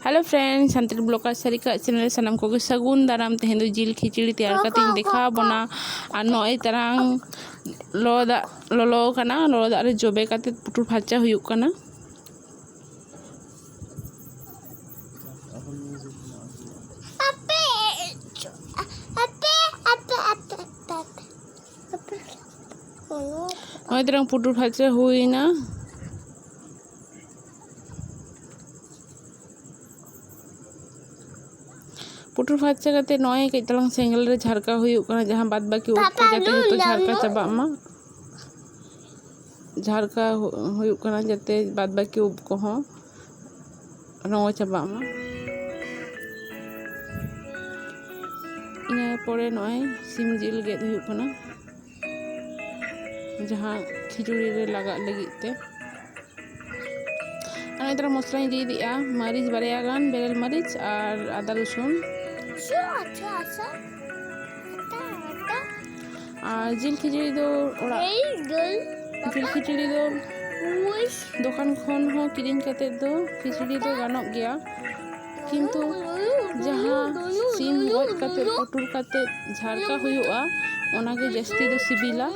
hello friend Santal blogger ᱥᱟᱹᱨᱤᱠᱟᱜ channel ᱥᱟᱱᱟᱢ ᱠᱚᱜᱮ ᱥᱟᱹᱜᱩᱱ ᱫᱟᱨᱟᱢ ᱛᱮᱦᱮᱧ ᱫᱚ ᱡᱤᱞ ᱠᱷᱤᱪᱲᱤ ᱛᱮᱭᱟᱨ ᱠᱟᱛᱮᱧ ᱫᱮᱠᱷᱟᱣ ᱵᱚᱱᱟ ᱟᱨ ᱱᱚᱜᱼᱚᱭ ᱛᱟᱨᱟᱝ ᱞᱚᱞᱚ ᱫᱟᱜ ᱞᱚᱞᱚ ᱟᱠᱟᱱᱟ ᱞᱚᱞᱚ ᱫᱟᱜ ᱨᱮ ᱡᱚᱵᱮ ᱠᱟᱛᱮ ᱯᱩᱴᱩᱨ ᱯᱷᱟᱨᱪᱟ ᱦᱩᱭᱩᱜ ᱠᱟᱱᱟ ᱱᱚᱜᱼᱚᱭ ᱛᱟᱨᱟᱝ ᱯᱩᱴᱩᱨ ᱯᱷᱟᱪᱟ ᱦᱩᱭᱱᱟ ᱯᱩᱴᱩᱨ ᱯᱷᱟᱨᱪᱟ ᱠᱟᱛᱮ ᱱᱚᱜᱼᱚᱭ ᱠᱟᱹᱡ ᱛᱟᱞᱟᱝ ᱥᱮᱸᱜᱮᱞ ᱨᱮ ᱡᱷᱟᱨᱠᱟ ᱦᱩᱭᱩᱜ ᱠᱟᱱᱟ ᱡᱟᱦᱟᱸ ᱵᱟᱫ ᱵᱟᱹᱠᱤ ᱩᱵ ᱠᱚ ᱡᱟᱛᱮ ᱡᱚᱛᱚ ᱡᱷᱟᱨᱠᱟ ᱪᱟᱵᱟᱜ ᱢᱟ ᱡᱷᱟᱨᱠᱟ ᱦᱩᱭᱩᱜ ᱠᱟᱱᱟ ᱡᱟᱛᱮ ᱵᱟᱫ ᱵᱟᱹᱠᱤ ᱩᱵ ᱠᱚᱦᱚᱸ ᱨᱚᱝᱜᱚ ᱪᱟᱵᱟᱜ ᱢᱟ ᱤᱱᱟᱹ ᱯᱚᱨᱮ ᱱᱚᱜᱼᱚᱭ ᱥᱤᱢ ᱡᱤᱞ ᱜᱮᱫ ᱦᱩᱭᱩᱜ ᱠᱟᱱᱟ ᱡᱟᱦᱟᱸ ᱠᱷᱤᱪᱩᱲᱤ ᱨᱮ ᱞᱟᱜᱟᱜ ᱞᱟᱹᱜᱤᱫ ᱛᱮ ᱟᱨ ᱱᱮᱛᱟᱨ ᱢᱚᱥᱞᱟᱧ ᱨᱤᱫ ᱮᱫᱟ ᱢᱟᱹᱨᱤᱪ ᱵᱟᱨᱭᱟ ᱜᱟᱱ ᱵᱮᱨᱮᱞ ᱢᱟᱹᱨᱤᱪ ᱟᱨ ᱟᱫᱟ ᱨᱚᱥᱩᱱ ᱟᱨ ᱡᱤᱞ ᱠᱷᱤᱪᱲᱤ ᱫᱚ ᱚᱲᱟᱜ ᱡᱤᱞ ᱠᱷᱤᱪᱲᱤ ᱫᱚ ᱫᱚᱠᱟᱱ ᱠᱷᱚᱱ ᱦᱚᱸ ᱠᱤᱨᱤᱧ ᱠᱟᱛᱮᱫ ᱫᱚ ᱠᱷᱤᱪᱲᱤ ᱫᱚ ᱜᱟᱱᱚᱜ ᱜᱮᱭᱟ ᱠᱤᱱᱛᱩ ᱡᱟᱦᱟᱸ ᱥᱤᱢ ᱜᱚᱡ ᱠᱟᱛᱮᱫ ᱯᱩᱴᱩᱨ ᱠᱟᱛᱮᱫ ᱡᱷᱟᱨᱠᱟ ᱦᱩᱭᱩᱜᱼᱟ ᱚᱱᱟᱜᱮ ᱡᱟᱹᱥᱛᱤ ᱫᱚ ᱥᱤᱵᱤᱞᱟ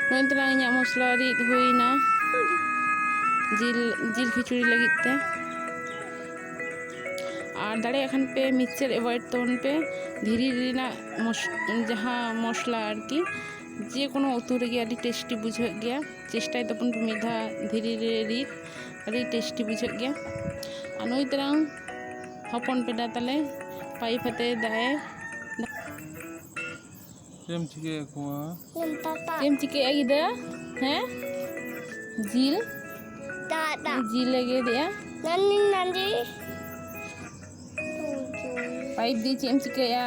ᱱᱚᱜᱼᱚᱭ ᱛᱟᱞᱟᱝ ᱤᱧᱟᱹᱜ ᱢᱚᱥᱞᱟ ᱨᱤᱫ ᱦᱩᱭᱱᱟ ᱡᱤᱞ ᱡᱤᱞ ᱠᱷᱤᱪᱩᱲᱤ ᱞᱟᱹᱜᱤᱫ ᱛᱮ ᱟᱨ ᱫᱟᱲᱮᱭᱟᱜ ᱠᱷᱟᱱ ᱯᱮ ᱢᱤᱠᱥᱪᱟᱨ ᱮᱵᱷᱚᱭᱮᱰ ᱛᱟᱵᱚᱱ ᱯᱮ ᱫᱷᱤᱨᱤ ᱨᱮᱱᱟᱜ ᱡᱟᱦᱟᱸ ᱢᱚᱥᱞᱟ ᱟᱨᱠᱤ ᱡᱮ ᱠᱳᱱᱳ ᱩᱛᱩ ᱨᱮᱜᱮ ᱟᱹᱰᱤ ᱴᱮᱥᱴᱤ ᱵᱩᱡᱷᱟᱹᱜ ᱜᱮᱭᱟ ᱪᱮᱥᱴᱟᱭ ᱛᱟᱵᱚᱱ ᱯᱮ ᱢᱤᱫ ᱫᱷᱟᱣ ᱫᱷᱤᱨᱤ ᱨᱮ ᱨᱤᱫ ᱟᱹᱰᱤ ᱴᱮᱥᱴᱤ ᱵᱩᱡᱷᱟᱹᱜ ᱜᱮᱭᱟ ᱟᱨ ᱱᱩᱭ ᱛᱟᱨᱟᱝ ᱦᱚᱯᱚᱱ ᱯᱮᱰᱟ ᱛᱟᱞᱮ ᱯᱟᱭᱤᱯ ᱟᱛᱮ ᱫᱟᱜ ᱮ ᱪᱮᱫ ᱮᱢ ᱪᱤᱠᱟᱹᱭᱮᱫ ᱠᱚᱣᱟ ᱪᱮᱫ ᱮᱢ ᱪᱤᱠᱟᱹᱭᱮᱫᱼᱟ ᱜᱤᱫᱟᱹ ᱦᱮᱸ ᱡᱤᱞ ᱡᱤᱞ ᱮ ᱜᱮᱫᱮᱜᱼᱟ ᱱᱟᱱᱤ ᱱᱟᱱᱤ ᱯᱟᱭᱤᱯ ᱫᱤ ᱪᱮᱫ ᱮᱢ ᱪᱤᱠᱟᱹᱭᱮᱫᱼᱟ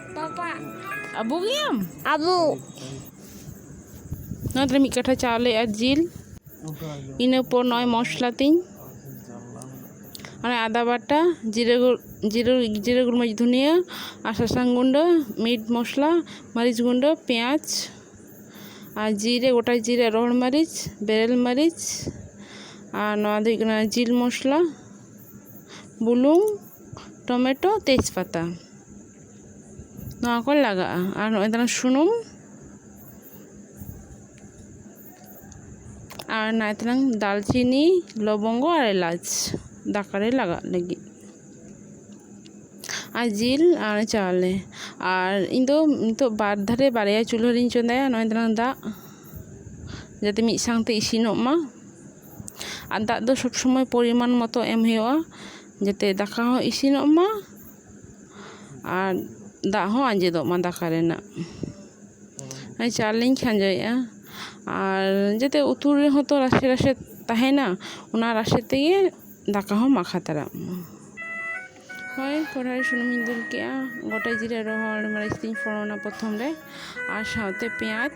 ᱯᱟᱯᱟ ᱟᱵᱩ ᱜᱮᱭᱟᱢ ᱟᱵᱩ ᱱᱚᱣᱟ ᱫᱚ ᱢᱤᱫ ᱠᱟᱴᱷᱟ ᱪᱟᱣᱞᱮ ᱟᱨ ᱡᱤᱞ ᱤᱱᱟᱹ ᱯᱚᱨ ᱱᱚᱜᱼᱚᱭ ᱢᱚᱥᱞᱟ ᱛᱤᱧ ᱚᱱᱟ ᱟᱫᱟ ᱵᱟᱴᱟ ᱡᱤᱨᱟᱹ ᱡᱤᱨᱟᱹ ᱡᱤᱨᱟᱹ ᱜᱩᱲᱢᱟᱹᱨᱤᱪ ᱫᱷᱩᱱᱤᱭᱟᱹ ᱟᱨ ᱥᱟᱥᱟᱝ ᱜᱩᱸᱰᱟᱹ ᱢᱤᱴ ᱢᱚᱥᱞᱟ ᱢᱟᱹᱨᱤᱪ ᱜᱩᱸᱰᱟᱹ ᱯᱮᱸᱭᱟᱡᱽ ᱟᱨ ᱡᱤᱨᱮ ᱜᱚᱴᱟ ᱡᱤᱨᱮ ᱨᱚᱦᱚᱲ ᱢᱟᱹᱨᱤᱪ ᱵᱮᱨᱮᱞ ᱢᱟᱹᱨᱤᱪ ᱟᱨ ᱱᱚᱣᱟ ᱫᱚ ᱦᱩᱭᱩᱜ ᱠᱟᱱᱟ ᱡᱤᱞ ᱢᱚᱥᱞᱟ ᱵᱩᱞᱩᱝ ᱴᱚᱢᱮᱴᱳ ᱛᱮᱡᱽᱯᱟᱛᱟ ᱱᱚᱣᱟ ᱠᱚ ᱞᱟᱜᱟᱜᱼᱟ ᱟᱨ ᱱᱚᱜᱼᱚᱭ ᱛᱟᱞᱟᱝ ᱥᱩᱱᱩᱢ ᱟᱨ ᱱᱚᱜᱼᱚᱭ ᱛᱟᱞᱟᱝ ᱫᱟᱨᱪᱤᱱᱤ ᱞᱚᱵᱚᱝᱜᱚ ᱟᱨ ᱮᱞᱟᱪ ᱫᱟᱠᱟ ᱨᱮ ᱞᱟᱜᱟᱜ ᱞᱟᱹᱜᱤᱫ ᱟᱨ ᱡᱤᱞ ᱟᱨ ᱪᱟᱣᱞᱮ ᱟᱨ ᱤᱧ ᱫᱚ ᱱᱤᱛᱚᱜ ᱵᱟᱨ ᱫᱷᱟᱨᱮ ᱵᱟᱨᱭᱟ ᱪᱩᱞᱦᱟᱹ ᱨᱤᱧ ᱪᱚᱸᱫᱟᱭᱟ ᱱᱚᱜᱼᱚᱭ ᱛᱟᱞᱟᱝ ᱫᱟᱜ ᱡᱟᱛᱮ ᱢᱤᱫ ᱥᱟᱶᱛᱮ ᱤᱥᱤᱱᱚᱜ ᱢᱟ ᱟᱨ ᱫᱟᱜ ᱫᱚ ᱥᱚᱵ ᱥᱚᱢᱚᱭ ᱯᱚᱨᱤᱢᱟᱱ ᱢᱚᱛᱚ ᱮᱢ ᱦᱩᱭᱩᱜᱼᱟ ᱡᱟᱛᱮ ᱫᱟᱠᱟ ᱦᱚᱸ ᱤᱥᱤᱱᱚᱜ ᱢᱟ ᱟᱨ ᱫᱟᱜ ᱦᱚᱸ ᱟᱸᱡᱮᱫᱚᱜ ᱢᱟ ᱫᱟᱠᱟ ᱨᱮᱱᱟᱜ ᱦᱮᱸ ᱪᱟᱞ ᱞᱤᱧ ᱠᱷᱟᱸᱡᱚᱭᱮᱫᱼᱟ ᱟᱨ ᱡᱟᱛᱮ ᱩᱛᱩ ᱨᱮᱦᱚᱸ ᱛᱚ ᱨᱟᱥᱮ ᱨᱟᱥᱮ ᱛᱟᱦᱮᱱᱟ ᱚᱱᱟ ᱨᱟᱥᱮ ᱛᱮᱜᱮ ᱫᱟᱠᱟ ᱦᱚᱸ ᱢᱟᱠᱷᱟ ᱛᱟᱨᱟᱜ ᱢᱟ ᱦᱳᱭ ᱠᱚᱲᱦᱟ ᱨᱮ ᱥᱩᱱᱩᱢᱤᱧ ᱫᱩᱞ ᱠᱮᱫᱼᱟ ᱜᱳᱴᱟ ᱡᱤᱨᱟᱹ ᱨᱚᱦᱚᱲ ᱢᱟᱹᱨᱤᱪ ᱛᱤᱧ ᱯᱷᱳᱲᱟᱱᱟ ᱯᱨᱚᱛᱷᱚᱢ ᱨᱮ ᱟᱨ ᱥᱟᱶᱛᱮ ᱯᱮᱸᱭᱟᱡᱽ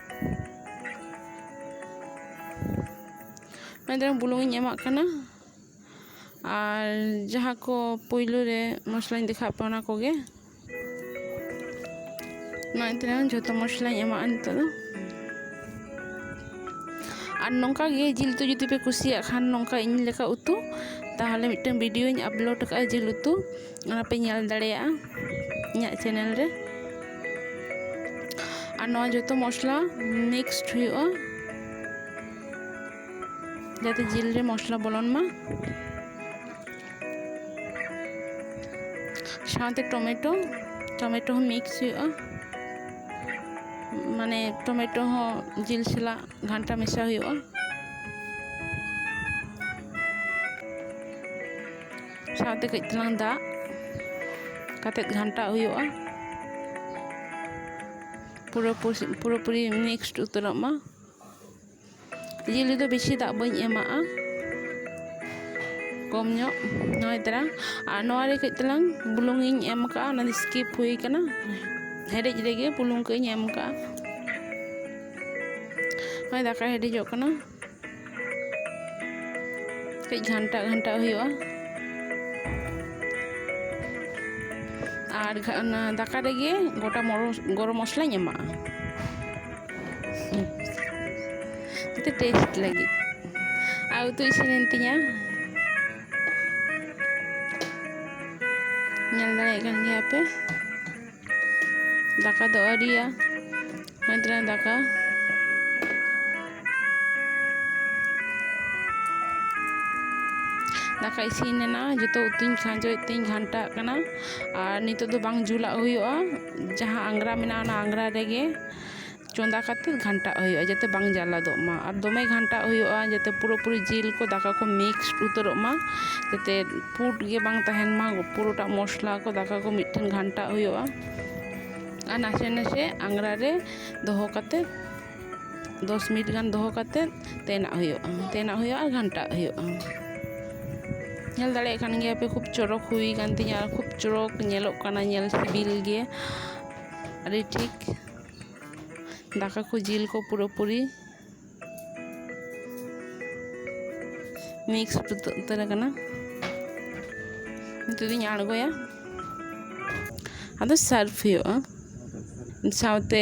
ᱢᱟᱱᱮ ᱛᱟᱭᱚᱢ ᱵᱩᱞᱩᱝ ᱤᱧ ᱮᱢᱟᱜ ᱠᱟᱱᱟ ᱟᱨ ᱡᱟᱦᱟᱸ ᱠᱚ ᱯᱳᱭᱞᱳ ᱨᱮ ᱢᱚᱥᱞᱟᱧ ᱫᱮᱠᱷᱟᱣᱟᱫ ᱯᱮᱭᱟ ᱚᱱᱟ ᱠᱚᱜᱮ ᱱᱚᱜᱼᱚᱭ ᱛᱟᱭᱚᱢ ᱡᱷᱚᱛᱚ ᱢᱚᱥᱞᱟᱧ ᱮᱢᱟᱜᱼᱟ ᱱᱤᱛᱚᱜ ᱫᱚ ᱟᱨ ᱱᱚᱝᱠᱟ ᱜᱮ ᱡᱤᱞ ᱩᱛᱩ ᱡᱩᱫᱤ ᱯᱮ ᱠᱩᱥᱤᱭᱟᱜ ᱠᱷᱟᱱ ᱱᱚᱝᱠᱟ ᱤᱧ ᱞᱮᱠᱟ ᱩᱛᱩ ᱛᱟᱦᱚᱞᱮ ᱢᱤᱫᱴᱟᱝ ᱵᱷᱤᱰᱤᱭᱳᱧ ᱟᱯᱞᱳᱰ ᱠᱟᱜᱼᱟ ᱡᱤᱞ ᱩᱛᱩ ᱚᱱᱟ ᱯᱮ ᱧᱮᱞ ᱫᱟᱲᱮᱭᱟᱜᱼᱟ ᱤᱧᱟᱹᱜ ᱪᱮᱱᱮᱞ ᱨᱮ ᱟᱨ ᱱᱚᱣᱟ ᱡᱚᱛᱚ ᱢᱚᱥᱞᱟ ᱢᱤᱠᱥᱰ ᱦᱩᱭᱩᱜᱼᱟ ᱡᱟᱛᱮ ᱡᱤᱞ ᱨᱮ ᱢᱚᱥᱞᱟ ᱵᱚᱞᱚᱱ ᱢᱟ ᱥᱟᱶᱛᱮ ᱴᱚᱢᱮᱴᱳ ᱴᱚᱢᱮᱴᱳ ᱦᱚᱸ ᱢᱤᱠᱥ ᱦᱩᱭᱩᱜᱼᱟ ᱢᱟᱱᱮ ᱴᱚᱢᱮᱴᱳ ᱦᱚᱸ ᱡᱤᱞ ᱥᱟᱞᱟᱜ ᱜᱷᱟᱱᱴᱟ ᱢᱮᱥᱟ ᱦᱩᱭᱩᱜᱼᱟ ᱥᱟᱶᱛᱮ ᱠᱟᱹᱡ ᱛᱟᱞᱟᱝ ᱫᱟᱜ ᱠᱟᱛᱮ ᱜᱷᱟᱱᱴᱟᱣ ᱦᱩᱭᱩᱜᱼᱟ ᱯᱩᱨᱟᱹ ᱯᱩᱨᱟᱹᱯᱩᱨᱤ ᱢᱤᱠᱥᱰ ᱩᱛᱟᱹᱨᱚᱜ ᱢᱟ ᱡᱤᱞ ᱨᱮᱫᱚ ᱵᱮᱥᱤ ᱫᱟᱜ ᱵᱟᱹᱧ ᱮᱢᱟᱜᱼᱟ ᱠᱚᱢ ᱧᱚᱜ ᱱᱚᱭ ᱛᱟᱨᱟ ᱟᱨ ᱱᱚᱣᱟ ᱨᱮ ᱠᱟᱹᱡ ᱛᱟᱞᱟᱝ ᱵᱩᱞᱩᱝ ᱤᱧ ᱮᱢ ᱠᱟᱜᱼᱟ ᱚᱱᱟ ᱫᱚ ᱥᱠᱤᱯ ᱦᱩᱭ ᱠᱟᱱᱟ ᱦᱮᱰᱮᱡ ᱨᱮᱜᱮ ᱵᱩᱞᱩᱝ ᱠᱟᱹᱡ ᱤᱧ ᱮᱢ ᱠᱟᱜᱼᱟ ᱱᱚᱜᱼᱚᱭ ᱫᱟᱠᱟ ᱦᱮᱰᱮᱡᱚᱜ ᱠᱟᱱᱟ ᱠᱟᱹᱡ ᱜᱷᱟᱱᱴᱟᱜ ᱜᱷᱟᱱᱴᱟᱜ ᱦᱩᱭᱩᱜᱼᱟ ᱟᱨ ᱚᱱᱟ ᱫᱟᱠᱟ ᱨᱮᱜᱮ ᱜᱚᱴᱟ ᱜᱚᱨᱚᱢ ᱢᱚᱥᱞᱟᱧ ᱮᱢᱟᱜᱼᱟ ᱡᱟᱛᱮ ᱴᱮᱥᱴ ᱞᱟᱹᱜᱤᱫ ᱟᱨ ᱩᱛᱩ ᱤᱥᱤᱱᱮᱱ ᱛᱤᱧᱟ ᱧᱮᱞ ᱫᱟᱲᱮᱭᱟᱜ ᱠᱟᱱ ᱜᱮᱭᱟ ᱯᱮ ᱫᱟᱠᱟ ᱫᱚ ᱟᱹᱣᱨᱤᱭᱟ ᱦᱩᱭ ᱛᱟᱞᱟᱝ ᱫᱟᱠᱟ ᱫᱟᱠᱟ ᱤᱥᱤᱱ ᱮᱱᱟ ᱡᱚᱛᱚ ᱩᱛᱩᱧ ᱠᱷᱟᱸᱡᱚᱭᱮᱫ ᱛᱤᱧ ᱜᱷᱟᱱᱴᱟᱜ ᱠᱟᱱᱟ ᱟᱨ ᱱᱤᱛᱚᱜ ᱫᱚ ᱵᱟᱝ ᱡᱩᱞᱟᱜ ᱦᱩᱭᱩᱜᱼᱟ ᱡᱟᱦᱟᱸ ᱟᱝᱜᱽᱨᱟ ᱢᱮᱱᱟᱜᱼᱟ ᱚᱱᱟ ᱟᱝᱜᱽᱨᱟ ᱨᱮᱜᱮ ᱪᱚᱸᱫᱟ ᱠᱟᱛᱮᱫ ᱜᱷᱟᱱᱴᱟᱜ ᱦᱩᱭᱩᱜᱼᱟ ᱡᱟᱛᱮ ᱵᱟᱝ ᱡᱟᱞᱟᱫᱚᱜ ᱢᱟ ᱟᱨ ᱫᱚᱢᱮ ᱜᱷᱟᱱᱴᱟᱜ ᱦᱩᱭᱩᱜᱼᱟ ᱡᱟᱛᱮ ᱯᱩᱨᱟᱹᱯᱩᱨᱤ ᱡᱤᱞ ᱠᱚ ᱫᱟᱠᱟ ᱠᱚ ᱢᱤᱠᱥ ᱩᱛᱟᱹᱨᱚᱜ ᱢᱟ ᱡᱟᱛᱮ ᱯᱩᱸᱰ ᱜᱮ ᱵᱟᱝ ᱛᱟᱦᱮᱱ ᱢᱟ ᱯᱩᱨᱟᱹᱴᱟ ᱢᱚᱥᱞᱟ ᱠᱚ ᱫᱟᱠᱟ ᱠᱚ ᱢᱤᱫ ᱴᱷᱮᱱ ᱜᱷᱟᱱᱴᱟᱜ ᱦᱩᱭᱩᱜᱼᱟ ᱟᱨ ᱱᱟᱥᱮ ᱱᱟᱥᱮ ᱟᱝᱜᱽᱨᱟ ᱨᱮ ᱫᱚᱦᱚ ᱠᱟᱛᱮᱫ ᱫᱚᱥ ᱢᱤᱱᱤᱴ ᱜᱟᱱ ᱫᱚᱦᱚ ᱠᱟᱛᱮᱫ ᱛᱮᱱᱟᱜ ᱦᱩᱭᱩᱜᱼᱟ ᱛᱮᱱᱟᱜ ᱦᱩᱭᱩᱜᱼᱟ ᱟᱨ ᱜᱷᱟᱱᱴᱟᱜ ᱦᱩᱭᱩᱜᱼᱟ ᱧᱮᱞ ᱫᱟᱲᱮᱭᱟᱜ ᱠᱟᱱ ᱜᱮᱭᱟᱯᱮ ᱠᱷᱩᱵ ᱪᱚᱨᱚᱠ ᱦᱩᱭ ᱠᱟᱱ ᱛᱤᱧᱟᱹ ᱟᱨ ᱠᱷᱩᱵ ᱪᱚᱨᱚᱠ ᱧᱮᱞᱚᱜ ᱠᱟᱱᱟ ᱧᱮᱞ ᱥᱤᱵᱤᱞ ᱜᱮ ᱟᱹᱰᱤ ᱴᱷᱤᱠ ᱫᱟᱠᱟ ᱠᱚ ᱡᱤᱞ ᱠᱚ ᱯᱩᱨᱟᱹᱯᱩᱨᱤ ᱢᱤᱠᱥ ᱩᱛᱟᱹᱨ ᱟᱠᱟᱱᱟ ᱱᱤᱛᱚᱜ ᱫᱚᱧ ᱟᱬᱜᱚᱭᱟ ᱟᱫᱚ ᱥᱟᱨᱵᱷ ᱦᱩᱭᱩᱜᱼᱟ ᱥᱟᱶᱛᱮ